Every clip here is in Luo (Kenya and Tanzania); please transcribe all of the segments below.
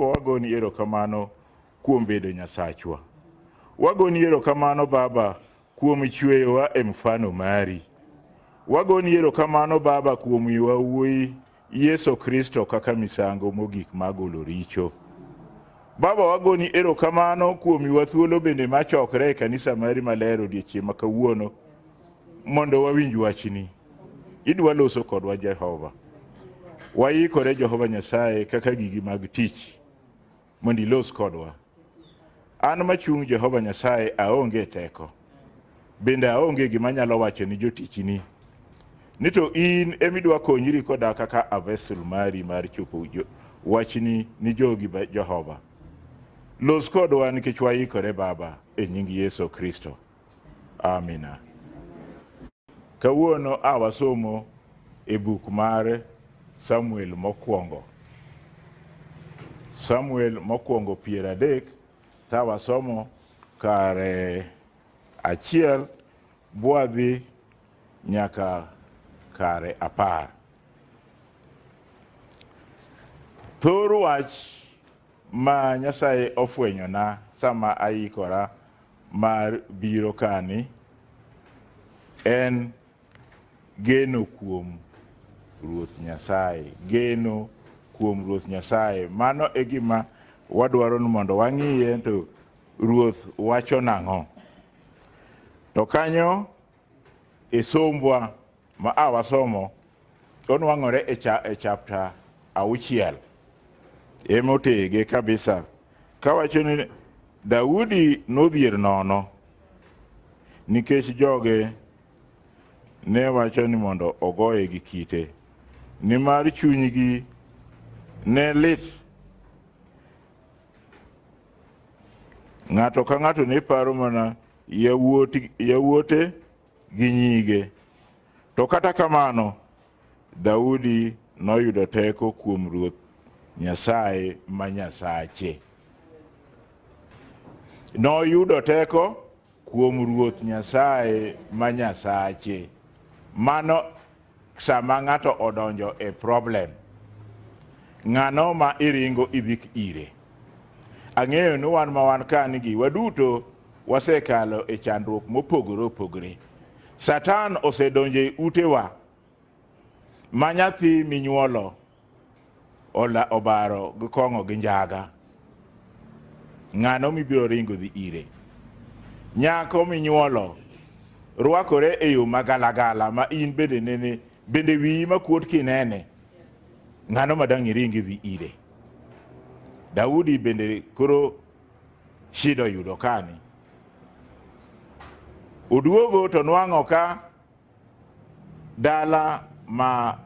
wagoni erokamano kuom bedo Nyasachwa. Wagoni erokamano Baba kuom chweyowa e mfano mari. Wagoni erokamano Baba kuom miyowa wuoyi Yesu Kristo kaka misango mogik ma golo richo. Baba, wagoni erokamano kuom miwa thuolo bende ma chokre e kanisa mari maler odiechieng' ma kawuono mondo wawinj wachni. Idwa loso kodwa Jehova. Waikore Jehova Nyasaye kaka gigi mag tich. mondo ilos kodwa. An machung' Jehova Nyasaye aonge teko, bende aonge gima anyalo wacho ni jotichini. Ni to in emidwa konyri koda kaka avesul mari mar chopo jo- wachni ni jogi ba- Jehova. Los kodwa nikech waikore Baba, e nying Yesu Kristo. Amina. Kawuono a wasomo e buk mar Samuel mokwongo. Samuel mokwongo piero adek ta wasomo kare achiel bwadhi nyaka kare apar. Thor wach ma Nyasaye ofwenyona sama aikora mar biro kani en geno kuom Ruoth Nyasaye. Geno kuom Ruoth Nyasaye. Mano e gima wadwaro ni mondo wang'iye to Ruoth wacho nang'o. To kanyo e sombwa Ma a wasomo onwang'ore e, cha, e chapta auchiel emotege kabisa kawacho ni Daudi nodhier nono nikech joge ne wacho ni mondo ogoye gi kite nimar chunygi ne lit ng'ato ka ng'ato ne paro mana yawuote gi nyige. To kata kamano, Daudi noyudo teko kuom Ruoth Nyasaye ma Nyasache. Noyudo teko kuom Ruoth Nyasaye ma Nyasache. Mano Sama ng'ato odonjo e problem, ng'ano ma iringo idhik ire? Ang'eyo ni wan ma wan ka nigi waduto wasekalo e chandruok mopogore opogore. Satan osedonjo e utewa ma nyathi minyuolo Ola obaro gi kong'o gi njaga, ng'ano mibiro ringo dhi ire? Nyako minyuolo rwakore e yo ma galagala ma in bende nene, bende wiyi makuot kinene, ng'ano ma dang' iring idhi ire? Daudi bende koro shida oyudo kani. Oduogo to nwang'o ka Dala ma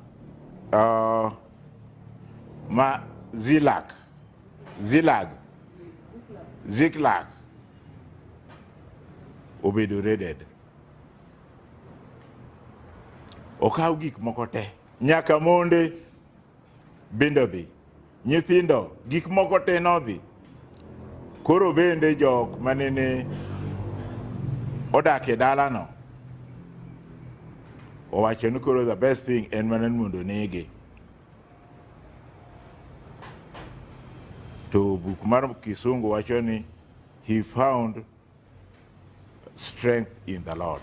uh, ma Zilak, Zilag, Ziklag obedo raided. Okaw gik moko te, nyaka monde Bende odhi. Nyithindo, gik moko te nodhi. Koro bende jok manene odak e dalano owacho ni koro the best thing en mana ni mondo onege. To buk mar Kisungu wacho ni he found strength in the Lord.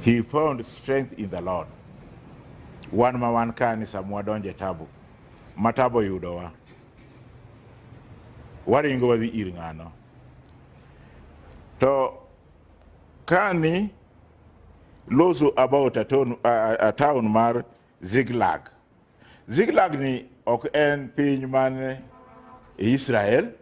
He found strength in the Lord. Wan ma wan ka ni sama wadonjo e tabu, ma tabu oyudowa, waringo wadhi ir ng'ano. To kani loso about a town, a, a town mar Ziklag. Ziklag ni ok en piny man e Israel.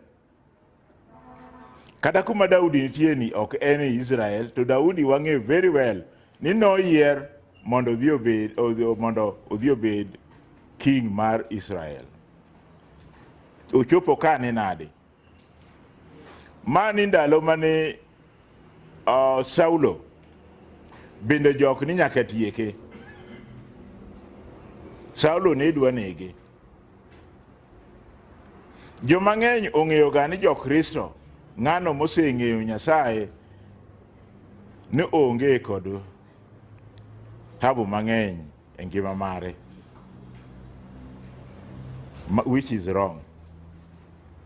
Kata kuma Daudi nitie ni ok en e Israel, to Daudi wang'e very well ni noyier mondo odhi obed odhi- mondo odhi obed king mar Israel. Ochopo ka ni nade? Mani ndalo mane uh, Saulo bende jok ni nyaka tieke. Saulo ne dwa nege. Jo mang'eny ong'eyo ga ni jo Kristo ng'ano moseng'eyo Nyasaye ni onge kod tabu mang'eny e ngima mare ma- which is wrong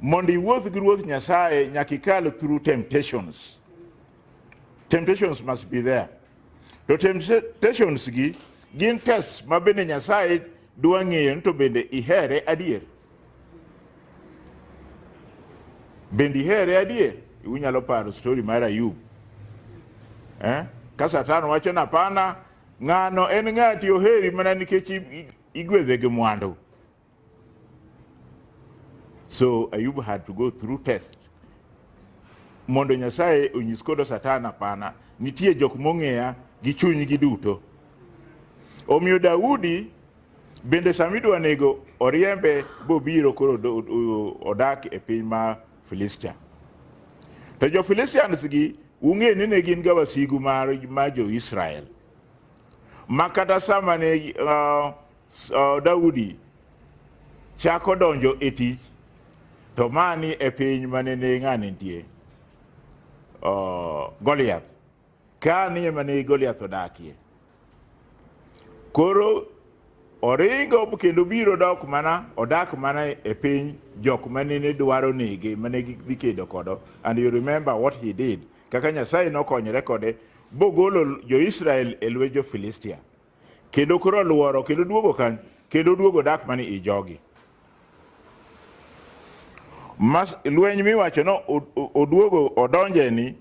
mondo iwuoth gi ruoth nyasaye nyaka ikal through temptations temptations must be there to temptations gi gin test ma bende nyasaye dwa ng'eyo ni to bende ihere adier bende ihere adier unyalo paro story mar ayub eh? ka satan wacho na pana Ng'ano en ng'ati oheri mana nikech igwedhe gi mwandu. So Ayub had to go through test mondo Nyasaye onyis kodo Satan apana, nitie jok mong'eya gi chunygi duto. Omiyo Daudi bende samidwa nego oriembe bobiro koro odak e piny ma Filistia. To jo Filistians gi ung'e ni ne gin ga wasigu mar ma jo Israel ma kata sama ne uh, uh, Daudi chako donjo e tich to mani e piny mane ne ng'ane nitie uh, Goliath Ka ni ema ne Goliath odakie. Koro oringo kendo biro dok mana odak mana e piny jok manene dwaro nege mane gidhi kedo kodo and you remember what he did kaka nyasaye nokonyore kode bogolo jo-israel e lwet jo-filistia kendo koro olworo kendo duogo kany kendo duogo dak mani i jogi Mas, lweny miwacho no oduogo odonje ni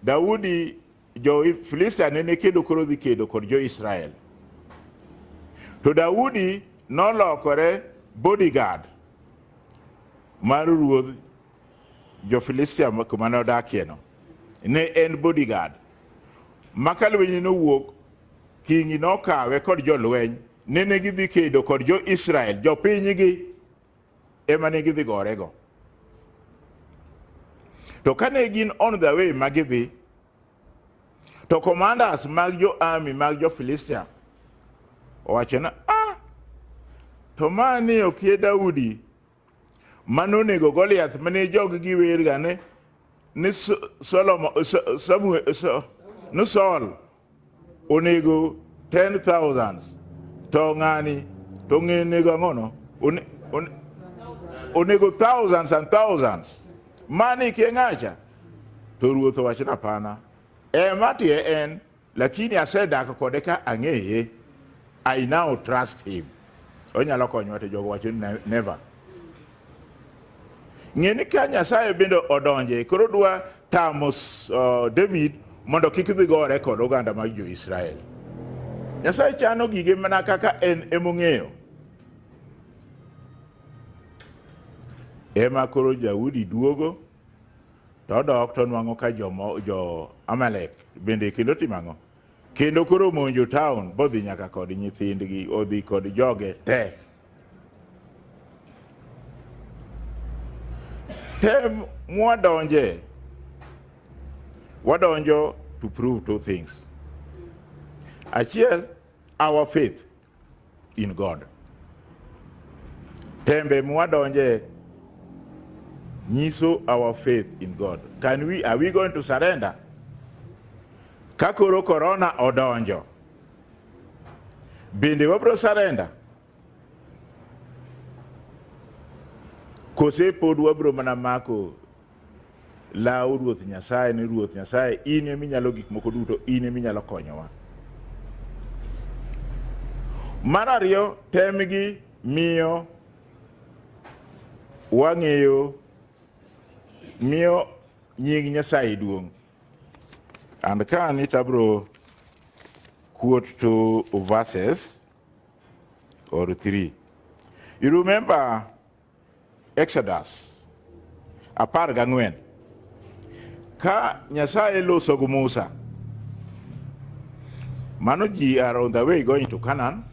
Daudi jo Filistia nene kedo koro dhi kedo kod jo Israel to Daudi nolokore bodyguard mar ruodh Jo-Filistia ma- kuma nodakieno ne en bodyguard ma ka lwenyne nowuok kingi nokawe kod jolweny nene gidhi kedo kod jo-Israel jopinygi ema ne gidhi gorego to kane gin on the way ma gidhi to commanders mag jo-army mag jo-Filistia owacho na ah, to ma ni okie Daudi manonego Goliath mane jogi giwerga ni ni Solomon Samuel ni Saul onego 10000 to ng'ani to ng'enego ang'ono onego thousands and thousands mani keng'acha to ruoth owachna pana ema tie en Lakini asedak kode ka ang'eye. I now trust him. Onyalo konyowa to jogo wacho ni never. Ng'e ni ka Nyasaye bende odonje koro dwa tamo uh, David mondo kik dhi gore kod oganda mag jo-Israel. Nyasaye chano gige mana kaka en emong'eyo. Ema koro Daudi duogo To odok to onwang'o ka jomo- jo-Amalek bende kendo otimo ang'o? Kendo koro omonjo taon, bodhi nyaka kod nyithindgi, odhi kod joge te. Tem mwadonje, wadonjo to prove two things. Achiel, our faith, in God. Tembe mwadonje nyiso our faith in God. Can we, are we going to surrender? Ka koro korona odonjo, bende wabro surrender? Kose pod wabro mana mako Law Ruoth Nyasaye ni Ruoth Nyasaye, in ema inyalo gik moko duto, in ema inyalo konyowa. Mar ariyo, temgi miyo wang'eyo miyo nying Nyasaye duong'. And ka an it abro quote two verses or three. You remember Exodus apar gang'wen ka Nyasaye loso gi Musa mano ji are on the way going to Canaan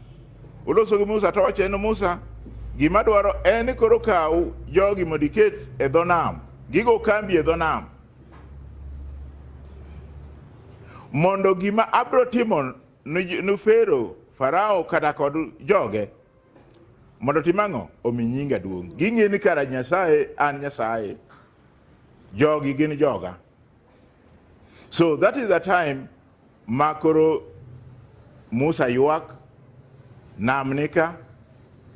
oloso gi Musa to owacho ni Musa gima dwaro en ni koro kaw jogi mondo iket e dho nam gigo kambi e dho nam mondo gima abiro timo ni ni Farao kata kod joge Mondo otim ang'o? Omi nyinga duong'. Ging'e ni kara Nyasaye an Nyasaye, jogi gin joga. So that is the time ma koro Musa ywak, nam nika,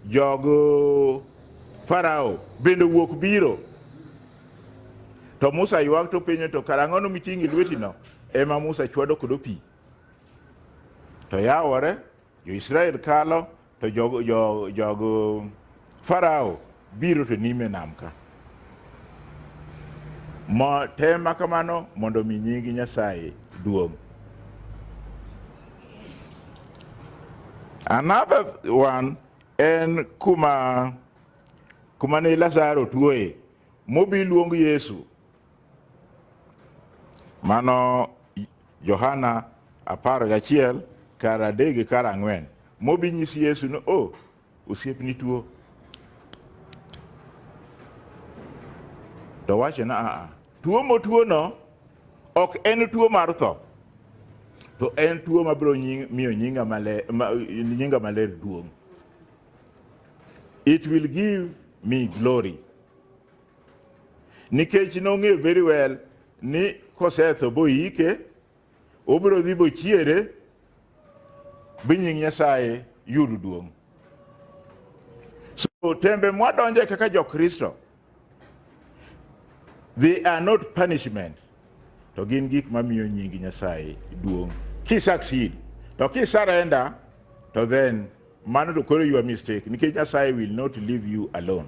jog Farao bende wuok biro. To Musa ywak to penyo to kara ang'ono miting'i lwetino? Ema Musa chwado kodo pi. To yawore Jo-Israel kalo, to jogo jo, jogo Farao biro to nime nam ka. Mo tema kamano mondo mi nyingi Nyasaye duong'. Another one en kuma kuma ne Lazaro tuoye mobi luong Yesu Mano Johana apar gachiel kar adek gi kar ang'wen mobi nyisi Yesu ni o osiepni tuo to wacho na aa tuo motuono ok en tuo mar tho to en tuo mabiro nying- miyo nyinga maler, ma, nyinga maler duong' it will give me glory nikech nong'eyo very well ni kosetho boyike obiro dhi bochiere bi nying nyasaye yud duong' so tembe mwadonje kaka jokristo they are not punishment to gin gik mamiyo nying nyasaye duong' kisucceed to kisarenda to then mano to koro your mistake nikech nyasaye will not leave you alone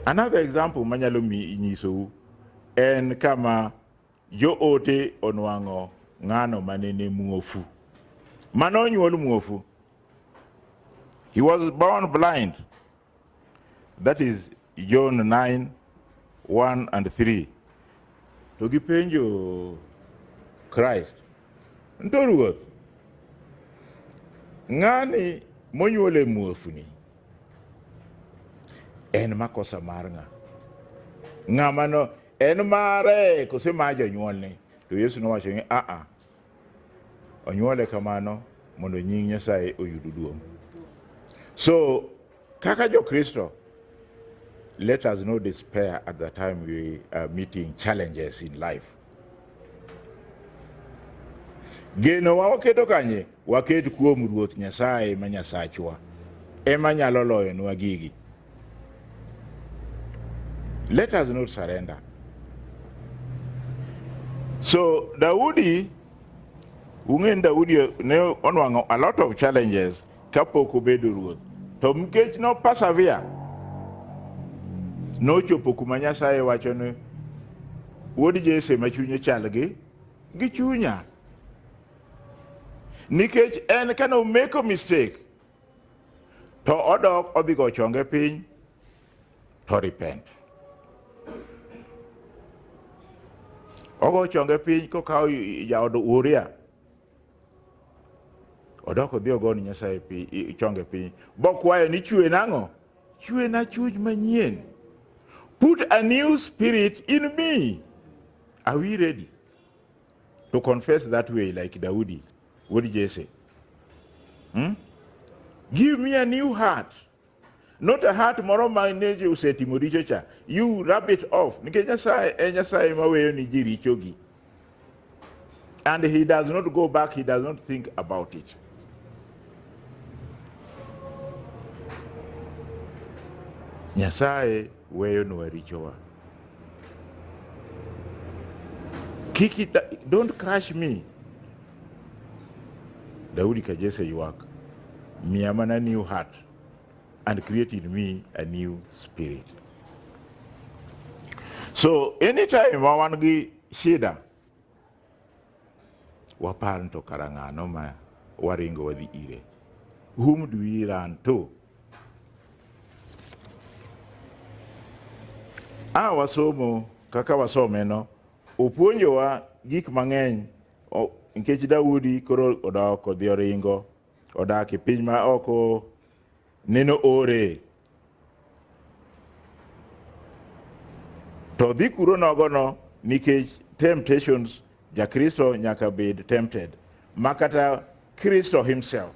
Another example manyalo nyisou en kama joote onwang'o ng'ano manene muofu. Mano onyuol muofu. He was born blind. That is John 9, 1 and 3. To gipenjo Christ, nto Ruoth, ng'ani monyuol e muofuni en makosa mar ng'a? Ng'ama no en mare kose ma jonyuolne? To Yesu nowacho ni aa, Onyuole kamano mondo nying Nyasaye oyud duong'. So, kaka jo Kristo, let us not despair at the time we are meeting challenges in life. Geno wa waketo kanye? Waket kuom Ruoth Nyasaye ma Nyasachwa. Ema nyalo loyonwa gigi. Let us not surrender. So Daudi, ung'e Daudi ne onwang'o a lot of challenges kapok obedo ruoth. To nikech no persevere, nochopo kuma Nyasaye wacho ni wuod Jesse ma chunye chal gi gi chunya. Nikech en kane omeko mistake, to odok odhi go chonge piny to repent ogo chonge piny kokawo jaodo uria odok odhi ogoni nyasaye chonge piny bokwayo ni chwe nang'o chwe na chuj manyien put a new spirit in me are we ready to confess that way like daudi Wuod Jesse. Hmm? Give me a new heart. Not a heart moro ma neje usetimo richo cha. You rub it off. Nikech Nyasaye e Nyasaye maweyo ni ji richogi. And he does not go back, he does not think about it. Nyasaye weyonwa richowa. Kiki, don't crush me. Daudi kajese yuak, miya mana new heart and create in me a new spirit. So anytime ma wan gi shida Wapar ni to kara ng'ano ma waringo wadhi ire? Whom do we run to? A wasomo kaka wasomeno, opuonjowa gik mang'eny o- nikech Daudi koro odok odhi oringo odak e piny ma oko neno ore To dhi kuro nogono nikech temptations jakristo nyaka bed tempted ma kata Kristo himself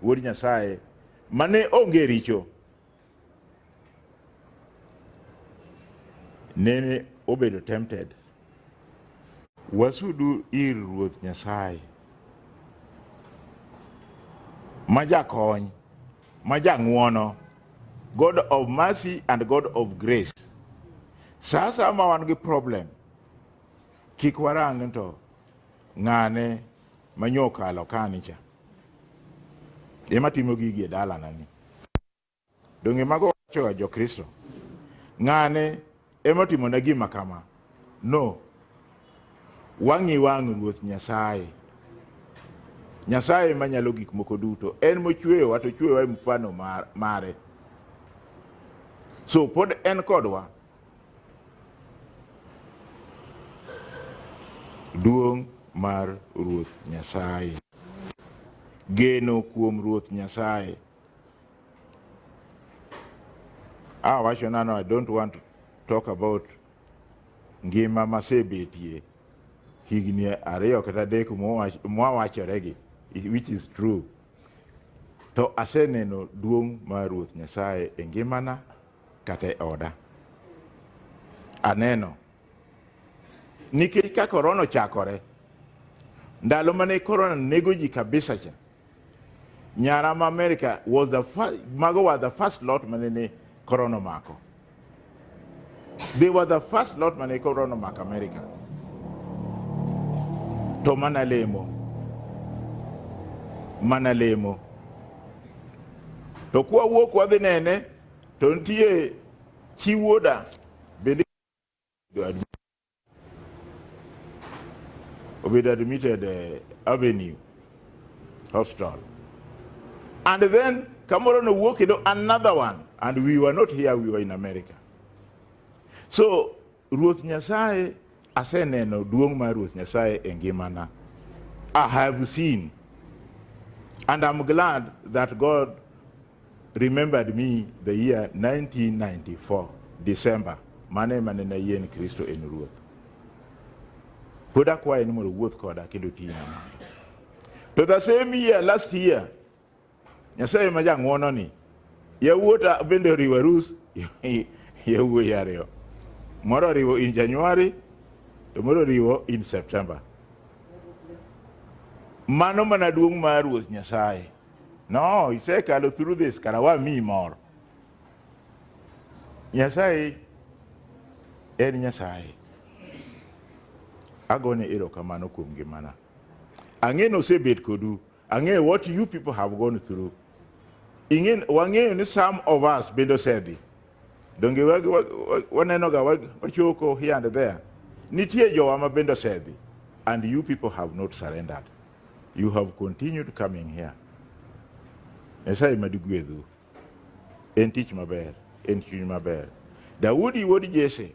wuod Nyasaye mane onge richo nene obedo tempted wasudu ir ruoth Nyasaye ma jakony ma jang'wono, God of mercy and God of grace. Sa asaya ma wan gi problem, kik warang ni to ng'ane ma nyo okalo kani cha. Ema timo gigi e dalana ni. Donge mago wachoga jo Kristo? Ng'ane Ema timona gima kama. No. Wang'i wang' Ruoth Nyasaye. Nyasaye ema nyalo gik moko duto. En mochweyowa to chweyowa e mfano mar, mare. So pod en kodwa. Duong' mar Ruoth Nyasaye. Geno kuom Ruoth Nyasaye. Ah, wacho nano, I don't want to talk about ngima masebetie higni ariyo kata adek mwawachoregi which is true to aseneno duong' mar ruoth nyasaye e ngimana kata e oda aneno Nikech ka korona ochakore, ndalo mane korona nego ji kabisa cha, nyara ma Amerika was the first, mago were the first lot mane ne korona omako. They were the first lot mane korona omako Amerika. To mana lemo, mana lemo. To kwa wuok wadhi nene, to nitie chi wuoda to admit, obedo admitted eh, Avenue Hospital. And then Kamoro no walk into another one and we were not here, we were in America. So Ruoth Nyasaye aseneno duong' mar Ruoth Nyasaye e ngimana. I have seen and I'm glad that God remembered me the year 1994 December mano ema nene ayie ni Kristo en Ruoth. Pod akwaye ni mondo owuoth koda kendo otinya mondo. To the same year last year Nyasaye ma jang'wono ni yawuota bende oriwo arus yawuoyi ariyo. Moro oriwo in January to moro oriwo in September. Mano mana duong' mar Ruoth Nyasaye. No, isekalo through this, kara wamiyi moro. Nyasaye en Nyasaye. Agone erokamano kuom ngimana. Ang'e ni osebet kodu. Ang'e what you people have gone through. Ing'e, wang'eyo ni some of us bende osedhi. Donge wa- wa- wa- wanenoga wa- wachoko here and there. Nitie jowa ma bende osedhi. And you people have not surrendered. You have continued coming here. Nyasaye mad gwedhu. En tich maber, en chuny maber. Daudi wuod Jesse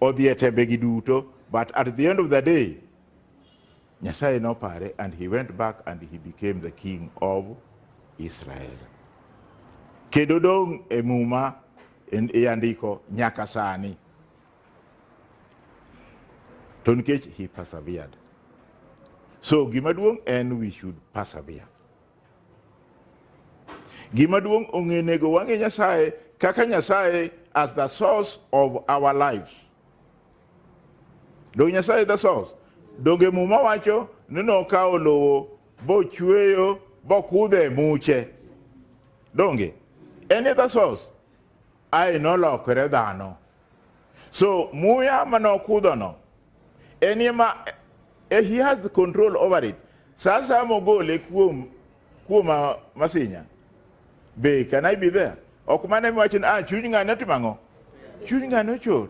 odhi e tembegi duto, but at the end of the day, Nyasaye nopare and he went back and he became the king of Israel. Kendo dong' e muma e andiko nyaka sani. to nikech he persevered so gima duong' en we should persevere gima duong' ong'e nego wang'e nyasaye kaka nyasaye as the source of our lives donge nyasaye the source donge muma wacho ni nokawo lowo bochweyo bokudhe muche donge en e the source ae nolokore dhano. So muya manokudhono en ema eh, he has the control over it. Sasa mogole kuom kuom ah, masinya. Be can I be there? Ok mane miwacho ni ah chuny ng'ane otimo ang'o? Chuny ng'ane ochot.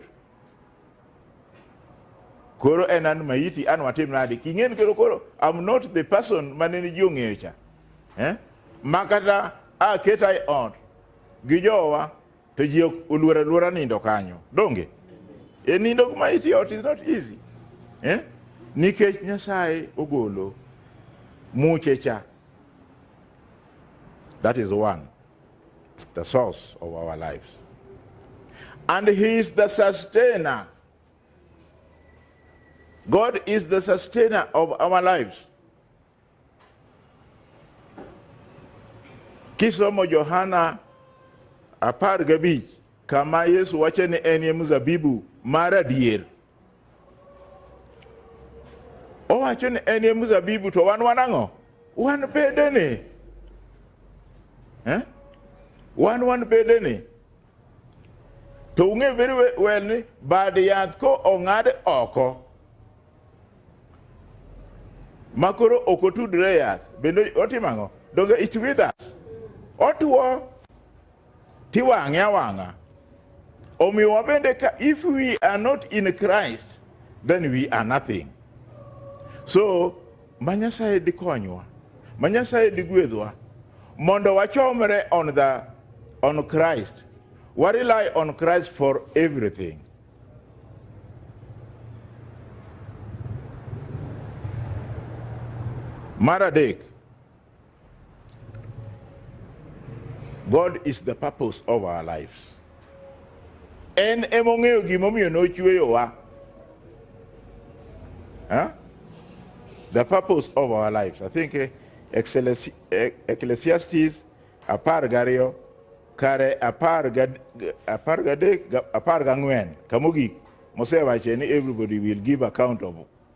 Koro en an maiti an watim nade? King'eni koro koro I'm not the person mane ni ji ong'eyo cha. Eh? Makata aketa e ot gi jowa to ji ok oluor aluora nindo kanyo donge e nindo kuma iti ot is not easy eh? nikech nyasaye ogolo muche cha that is one the source of our lives and he is the sustainer god is the sustainer of our lives Kisomo Johana apar gabich kama Yesu wacho ni en ye mzabibu mar adier. Owacho ni en ye mzabibu to wan wan ang'o? Wan bedene. Eh? Wan wan bedene. To ung'e very well ni bad yath ko ong'ad oko ma koro ok otudre yath bende otimo ang'o? Donge it withers? Otuo tiwang'e awang'a. Omiyo wabende ka if we are not in Christ then we are nothing. So Ma Nyasaye dikonywa, ma Nyasaye digwedhwa mondo wachomre on the on Christ. We rely on Christ for everything. Mar adek, God is the purpose of our lives. En emong'eyo gimomiyo nochweyowa. Huh? The purpose of our lives. I think eh, Excelesi- eh, Ecclesiastes apar gariyo kare apar gad- apar gadek ga- apar gang'wen kamogik mosewache ni everybody will give account of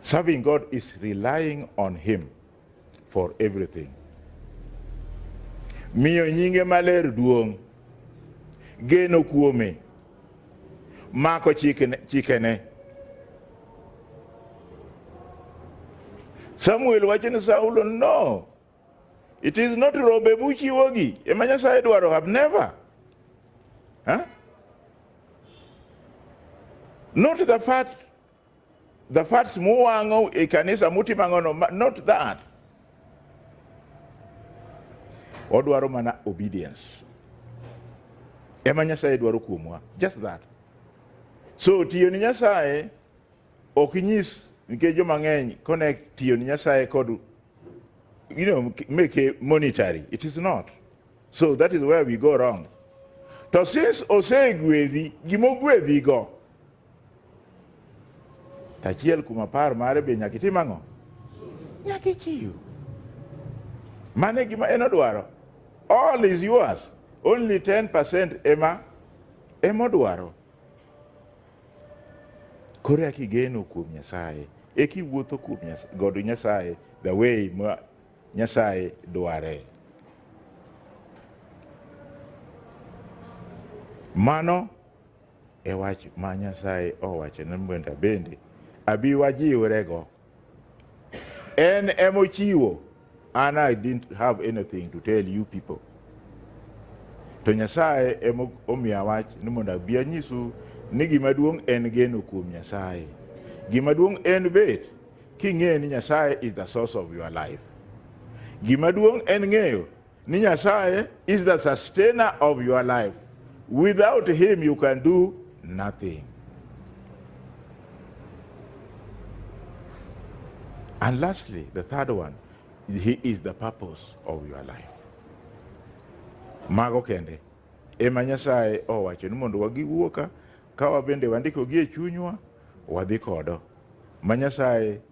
Serving God is relying on Him for everything. Miyo nyinge maler duong', geno kuome, mako chikene. chikene. Samuel wacho ni Saulo no It is not rombe muchiwogi ema Nyasaye dwaro have never. Huh? Not the fat the fats muwang'o e kanisa mutimo ang'ono ma- not that. Odwaro mana obedience. Ema Nyasaye dwaro kuomwa just that. So tiyo ni Nyasaye Ok inyis nikech joma ng'eny connect tiyo ni Nyasaye kod you know, make a monetary. It is not. So that is where we go wrong. To since osegwedhi gima ogwedhigo, to achiel kuom apar mare be nyaka itim ang'o? Nyaka ichiw. Mano e gima en odwaro. All is yours. Only 10% ema ema odwaro. Koro eka igeno kuom Nyasaye, eka iwuotho kuom godo Nyasaye the way ma Nyasaye dware. Mano e wach ma Nyasaye owachona bende abi wajiwrego. En emochiwo. An I didn't have anything to tell you people. To Nyasaye emomiya wach ni mondo abi anyisu ni gima duong' en geno kuom Nyasaye. Gima duong' en bet king'eyo ni Nyasaye is the source of your life. Gima duong' en ng'eyo Ni Nyasaye is the sustainer of your life. Without him you can do nothing. And lastly, the third one, he is the purpose of your life. Mago kende ema Nyasaye owacho ni mondo wagiwuo ka ka wabende wandikogi e chunywa wadhi kodo ma Nyasaye